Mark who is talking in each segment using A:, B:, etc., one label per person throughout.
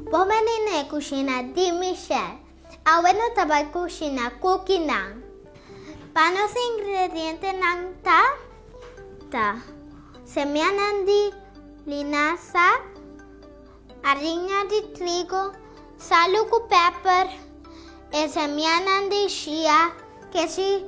A: Bon menine e kushina di Michelle. Awe no ta bai kushina kukinan. Pa nos ingredientenan ta, ta, semianan di linasa, ariña di trigo, salu ku pèper, e semianan di shia, kesi,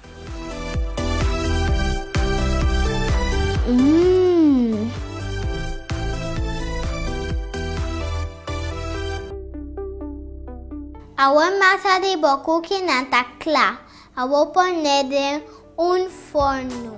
A: Awor masa di bo kukinan ta kla. Awor pon'é den un forno.